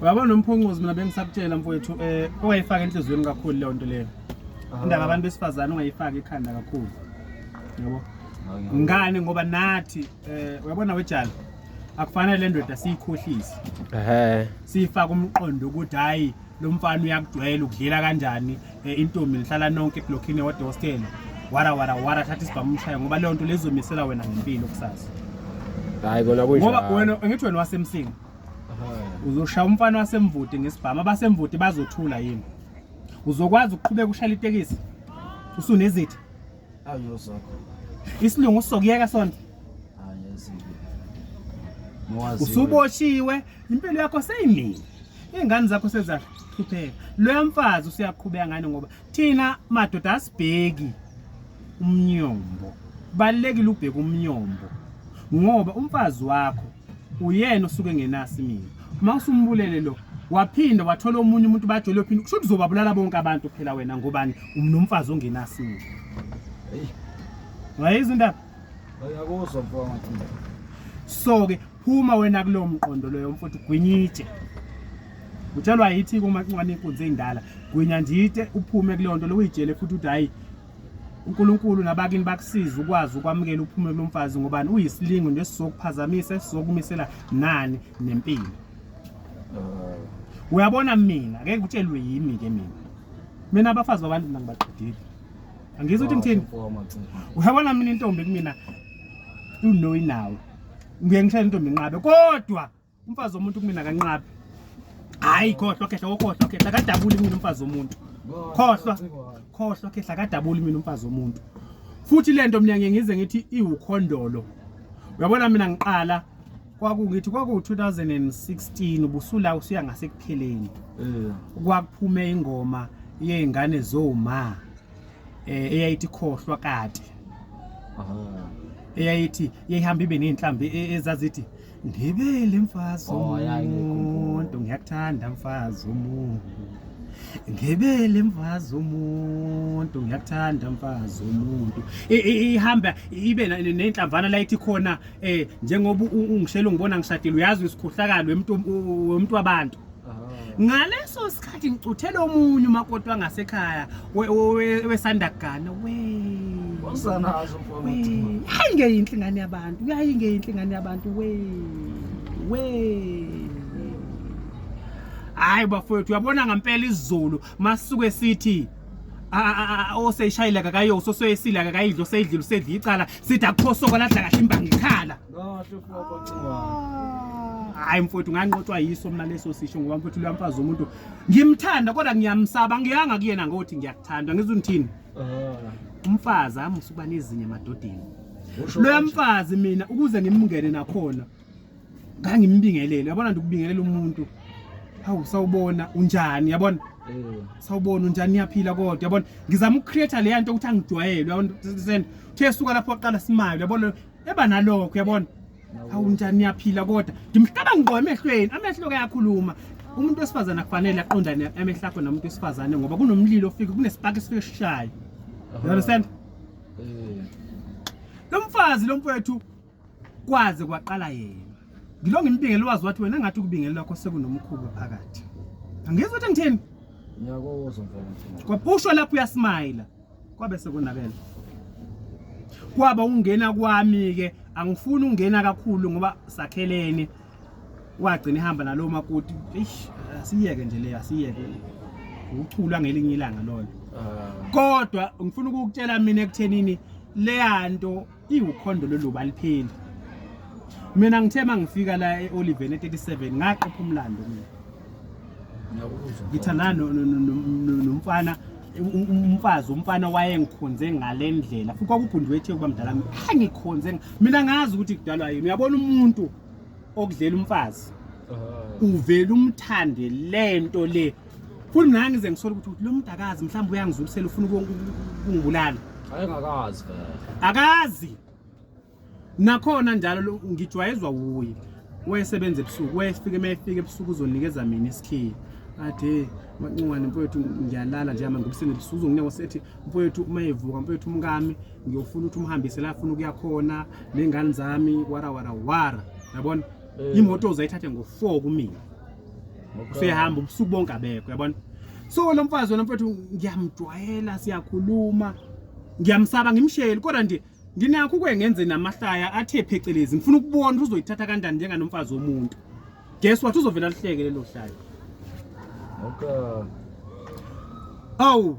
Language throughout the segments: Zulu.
Uyabona nomphoncozi mina bengisakutshela mfowethu eh ungayifaka enhlizweni kakhulu leyo nto leyo. Indaba abantu besifazane ungayifaka ekhanda kakhulu. Yabo. Ngani ngoba nathi eh uyabona wejala akufanele le ndoda siyikhohlise. Ehhe. Siyifaka umqondo ukuthi hayi lo mfana uyakugcwela ukudlela kanjani eh, intombi nihlala nonke eblokhini ewodwa hostela wara wara wara thatha isibhamu umshaye ngoba leyo nto lezomisela wena ngempilo kusasa hayi kona kunjalo ngoba wena ngithi wena wasemsinga uzoshaya umfana wasemvuti ngesibhamu abasemvuti bazothula yini uzokwazi ukuqhubeka ushayela itekisi usunezithi isilungu sizokuyeka sona usuboshiwe impilo yakho seyimini iy'ngane zakho sezahlupheka loya mfazi usuyaqhubeka ngani ngoba thina madoda asibheki umnyombo kubalulekile ubheke umnyombo ngoba umfazi wakho uyena osuke ngenasi mina uma usumbulele lo waphinde wathola omunye umuntu bajole phinde kusho uzobabulala bonke abantu phela wena ngobani umnomfazi ongenasi mina hey wayizwa indaba ayakuzwa mfowethu so ke phuma wena kulowo mqondo loyo mfowethu gwinyitshe utshelwa yithi kumancwane inkunzi endala gwinya njite uphume kuleyo nto loyijele futhi uthi hayi uNkulunkulu nabakini bakusiza ukwazi ukwamukela uphumule lomfazi ngobani uyisilingo nesizokuphazamisa esizokumisela nani nempilo uh. uyabona mina ngeke kutshelwe yimi ke mina mina abafazi babantu mina ngibaqedile angizwa ukuthi ngithini uyabona mina intombi kumina unoyi nawe ngiye ngishayela intombi inqabe kodwa Umfazi womuntu kumina kanqabi. Hayi khohlwa khehla kokhohlwa khehla kadabuli mina umfazi womuntu. Khohlwa khohlwa khehla kadabuli mina umfazi womuntu. Futhi lento mina ngeke ngize ngithi iwukhondolo. Uyabona mina ngiqala kwakungithi kwaku 2016 ubusula usuya ngasekupheleni. Eh. Kwakuphume ingoma yezingane zoma. Eh eyayithi khohlwa kade. Aha. eyayithi yayihamba ibe nezinhlambi e, ezazithi Ngibele mfazi Oh, ya, umuntu ngiyakuthanda mfazi umuntu Ngibele mfazi umuntu ngiyakuthanda mfazi umuntu I- i- ihamba ibe na- nenhlamvana la ithi khona eh njengoba u- ungishela ungibona ngishadile uyazi isikhohlakalo wemuntu wemuntu wabantu ngaleso sikhathi ngicuthelwe omunye umakoti wangasekhaya wesanda kugana we hayi ngeyinhle ingane yabantu yayi ngeyinhle ingane yabantu we we hayi bafowethu uyabona ngempela izulu masuke sithi oseyishayile kakayososeyisile kakayidlo seyidlile usedla icala sithi akukho soko ladla kahle imbangi ikhala hayi mfowethu nganqotshwa yiso mina leso sisho ngoba mfowethu loya mfazi womuntu ngimthanda kodwa ngiyamsaba ngiyanga kuyena ngothi ngiyakuthanda ngizwe ngithini ah. umfazi amusa ukuba nezinye emadodeni loya mfazi mina ukuze ngimngene nakhona ngangimbingelele yabona nje ukubingelela umuntu hawu sawubona unjani yabona eh. sawubona unjani niyaphila kodwa yabona ngizama ukucreate leya nto ukuthi angijwayele yabona uthe suka lapho oqala simayo yabona eba nalokho uyabona hawu njani niyaphila kodwa ngimhlaba ngqo emehlweni amehlo kayakhuluma umuntu wesifazane akufanele aqondane amehlo akho namuntu wesifazane ngoba kunomlilo ofike kunesipaki esifike sishaye you understand eh. lo mfazi lo mfowethu kwaze kwaqala yena ngilo ngimbingele wazi wathi wena ngathi ukubingele lakho sekunomkhuba phakathi angizwa ukuthi ngithini ngiyakozwa mfowethu kwaphusho lapho uyasimile kwabe sekonakele kwaba ungena kwami ke angifuni ungena kakhulu ngoba sakhelene wagcina ihamba nalo makoti eish asiyeke nje le asiyeke ukuchula ngelinye ilanga lolo ah. kodwa ngifuna ukukutshela mina ekuthenini leyanto iwukhondo lolu balipheli mina ngithe uma ngifika la e-oliven e-37 ngaqopha umlando mina ngithandana nomfana umfazi umfana wayengikhonze ngale ndlela futhi kwakubhundiwe ethe kuba mdala angikhonze mina ngazi ukuthi kudalwa yini uyabona umuntu okudlela umfazi uvele umthande lento le futhi mina ngize ngisole ukuthi ukuthi lo muntu akazi mhlawumbe uyangizulisela ufuna ukungibulala ayengakazi vele akazi nakhona njalo lo- ngijwayezwa wuye wayesebenza ebusuku wayefika uma efika ebusuku uzonikeza mina isikhini ade mancungwane mfowethu ngiyalala nje ama ngibuseni ebusuku uzonginika wasethi mfowethu uma evuka mfowethu umkami ngiyofuna ukuthi umhambise la afuna ukuya khona ney'ngane zami wara wara wara yabona Eh. imoto uzayithathe ngo-four kumina usehamba ubusuku bonke abekho yabona so lo mfazi wena mfethu ngiyamjwayela siyakhuluma ngiyamsaba ngimsheli kodwa nje nginakho ukwengenze namahlaya athe phecelezi ngifuna ukubona ukuthi uzoyithatha kanjani njenganomfazi womuntu guess what uzovela lihleke lelo hlaya okay awu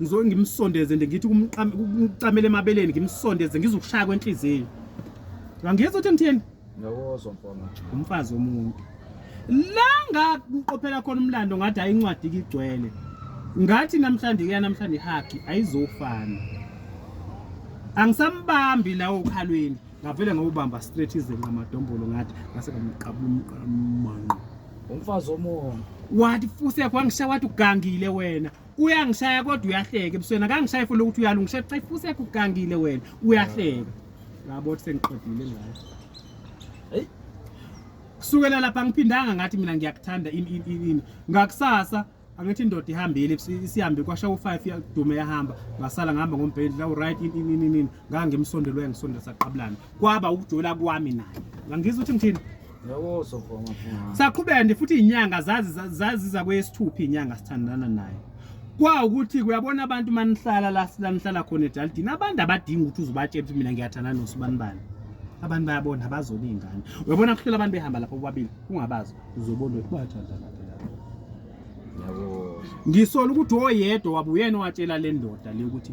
ngizoke ngimsondeze nje ngithi kumcamele emabeleni ngimsondeze ngizokushaya kwenhliziyo ngangiyeza ukuthi ngithini ngiyawozwa mfana umfazi womuntu la ngakuqophela khona umlando ngathi hayi incwadi kigcwele ngathi namhlanje kuya namhlanje ihagi ayizofana angisambambi lawo ukhalweni ngavele ngawubamba straight izenqa amadombolo ngathi ngase ngamqabula ummanqo umfazi omoya wathi fuse kwangishaya wathi ugangile wena uyangishaya kodwa uyahleka ebusweni akangishaye futhi ukuthi uyalungisha cha ifuse kugangile wena uyahleka yabo ukuthi sengiqedile ngayo hey kusukela lapha ngiphindanga ngathi mina ngiyakuthanda ini ini ini ngakusasa angithi indoda ihambile isihambe kwasha u5 yadume yahamba ngasala ngihamba ngombhedla u right ini ini ini ngangimsondelwe ngisondela saqabulana kwaba ukujola kwami naye ngangizwa ukuthi ngithini saqhubeka nje futhi inyanga zaziza kweyesithupha inyanga sithandana naye kwa ukuthi kuyabona abantu manihlala la silanihlala khona edalidini abantu abadinga ukuthi uzobatshela ukuthi mina ngiyathandana nosibani bani abantu bayabona abazona iy'ngane uyabona kuhlela abantu behamba lapho bobabili ungabazi uzobona ukuthi bayathandana ngisola ukuthi oyedwa wabuyena owatshela le ndoda le ukuthi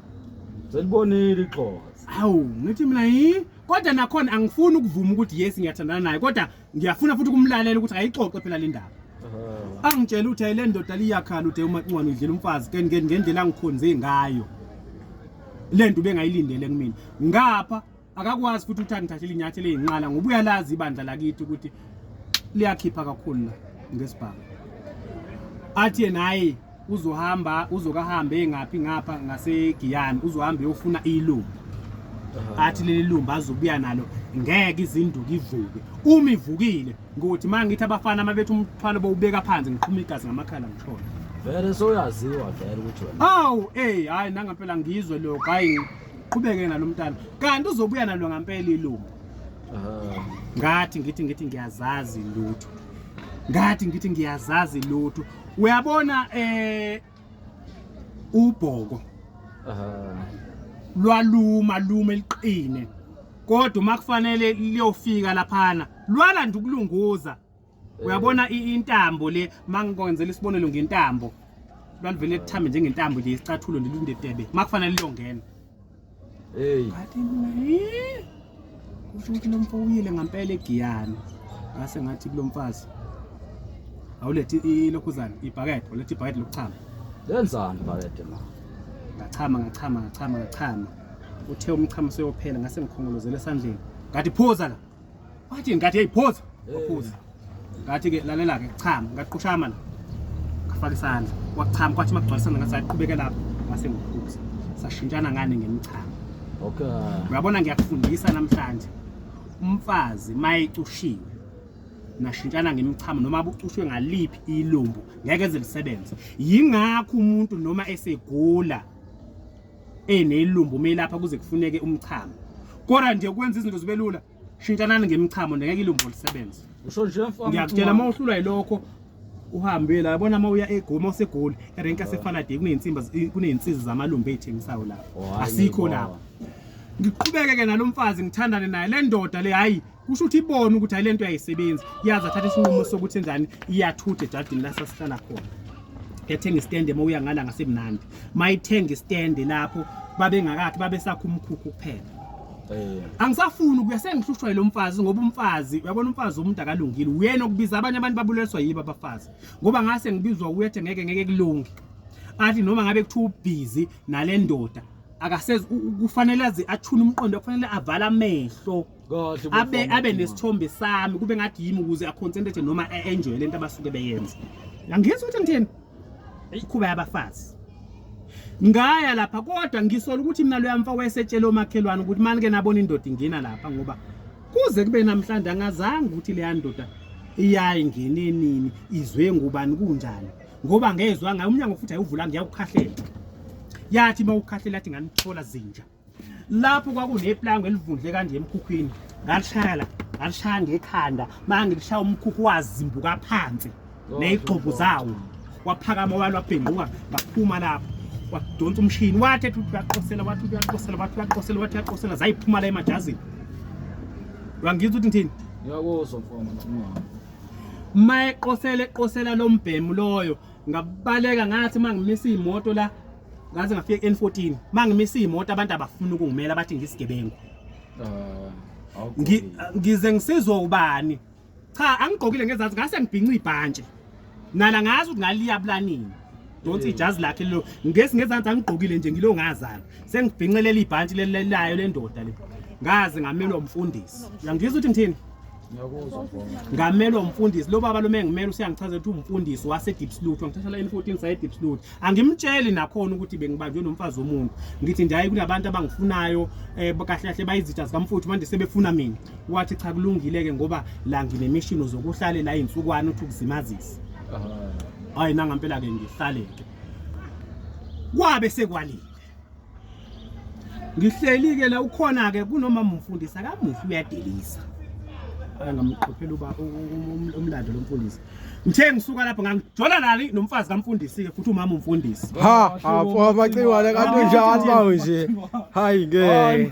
Selibonile ixoka. Hawu, ngithi mina yi kodwa nakhona angifuni ukuvuma ukuthi yes ngiyathandana naye kodwa ngiyafuna futhi ukumlalela ukuthi ayixoxe phela le ndaba. Angitshela ukuthi ayile ndoda liyakhala uthe uma ncwane udlela umfazi ke ngendlela angikhonze ngayo. Le nto ubengayilindele kumina. Ngapha akakwazi futhi ukuthi angithathele inyathelo ezinqala ngoba uyalazi ibandla lakithi ukuthi liyakhipha kakhulu la ngesibhamu athi yena hayi uzohamba uzokahambe engaphi ngapha ngasegiyani uzohamba eyofuna ilumbu athi leli lumbu azobuya nalo ngeke izinduku ivuke uma ivukile ngokuthi uma ngithi abafana uma bethi umthwalo bowubeka phansi ngiqhuma igazi ngamakhala ngishona vele soyaziwa vele ukuthi wena awu eyi hhayi nangampela ngizwe lokho hhayi qhubeke nalo mntana kanti uzobuya nalo ngampela ilungu ngathi ngithi ngithi ngiyazazi lutho ngathi ngithi ngiyazazi lutho uyabona eh ubhoko lwaluma luma eliqine kodwa uma kufanele liyofika laphana lwalanda ukulunguza uyabona intambo le mangikwenzela isibonelo ngentambo lwalivele lithambe njengentambo nje isicathulo ndilundetebe makufanele liyongena hey ngathi mina eh kusho ukuthi lomfo uyile ngempela egiyana ngase ngathi kulomfazi awulethi ilokhuzana ibhakede ulethe ibhakede lokuchama lenzani ibhakede ma ngachama ngachama ngachama ngachama uthe umchamo seyophela ngase ngikhongolozela esandleni ngathi phuza la wathi ngathi hey phoza waphuza ngathi ke lalela ke chama ngaqhushama la ngafaka isandla wachama kwathi magcwalisana ngathi saqhubeke lapho ngase ngiphuza sashintshana ngane ngemichama okay uyabona ngiyakufundisa namhlanje umfazi mayecushiwe nashintshana ngemichamo noma abucushwe ngaliphi ilumbu ngeke zilisebenze yingakho umuntu noma esegula eyinelumbu meyilapha kuze kufuneke umchamo kodwa nje ukwenza izinto zibe lula shintshanani ngemichamo ngeke ilumbu lisebenze usho nje mfana ngiyakutshela uma uhlulwa yilokho uhambe la yabona uma uya egoma usegoli erenka sefalade kuneyinsimba kuneyinsizi zamalumbu eyithengisayo lapho asikho lapho ngiqhubeke ke nalomfazi ngithandane naye le ndoda le hayi kusho ukuthi ibona ukuthi hayi lento yayisebenzi yazi athatha isinqumo sokuthi enjani iyathutha ejadini la sasihlala khona yathenga istende uma uya ngala ngasemnandi mayithenga istende lapho babengakakhe babesakha umkhukhu kuphela eh. angisafuni ukuya sengihlushwa yilo mfazi ngoba umfazi uyabona umfazi umuntu akalungile uyena okubiza abanye abantu babuleliswa yibo abafazi ngoba ngase ngibizwa uyethe ngeke ngeke kulunge athi noma ngabe kuthiwa ubhizi nale ndoda akasezi kufanele aze athune umqondo kufanele avala amehlo kahle abe abe nesithombe sami kube ngathi yimi ukuze aconcentrate noma enjoy lento abasuke beyenza angizwa ukuthi ngithini ikhuba yabafazi ngaya lapha kodwa ngisola ukuthi mina loya mfa wayesetshela omakhelwane ukuthi mani ke nabona indoda ingena lapha ngoba kuze kube namhlanje angazange ukuthi leya ndoda iyayi ngenenini izwe ngubani kunjani ngoba ngezwa ngayo umnyango futhi ayivula ngiyawukhahlela yathi mawukhahlela athi nganithola zinja lapho kwakuneplango elivundle kanje emkhukhwini ngalishaya la ngalishaya ngekhanda manje ngilishaya umkhukhu wazimbuka phansi nezigxobo zawo waphakama walo wabhenguka ngaphuma lapho wadonsa umshini wathi ethi uyaqosela wathi uyaqosela wathi uyaqosela wathi uyaqosela zayiphuma la emajazini wangizwa ukuthi ngithini ngiyakuzwa mfana mayeqosele eqosela lombhemu loyo ngabaleka ngathi uma ngimisa iy'moto la ngaze ngafika ku-n14 uma ngimisa iy'moto abantu abafuni ukungimela bathi ngisigebengu Ah, awugqokile. Ngi- ngize ngisizwe ubani cha angigqokile ngezansi ngase ngibhinca ibhantshi nala ngazi ukuthi ngaliyabulani donsi ijazi lakhe lelo ngesi ngezansi angigqokile nje ngilo ngazana sengibhincelela ibhantshi leli- layo lendoda le ngaze ngamelwa umfundisi uyangizwa ukuthi ngithini ngamelwa umfundisi lo baba loma engimele usiyangichaza ukuthi umfundisi wase deep salute wangithatha la N14 saye deep salute angimtsheli nakhona ukuthi bengibanjwe nomfazi womuntu ngithi ndiyaye kunabantu abangifunayo eh kahle kahle bayizitha zikamfuthu manje sebefuna mina wathi cha kulungile ke ngoba la nginemishini zokuhlalela izinsukwana uthi ukuzimazisa hayi nangampela ke ngihlale ke kwabe sekwalile ngihleli-ke la ukhona-ke kunoma mumfundisi akamufi uyadelisa ngamqophela uba umlando lo mfundisi ngithe ngisuka lapho ngangijola nali nomfazi kamfundisi-ke futhi umama umfundisi ha apho amacingwane kanti njalo bawo nje hayi ngeke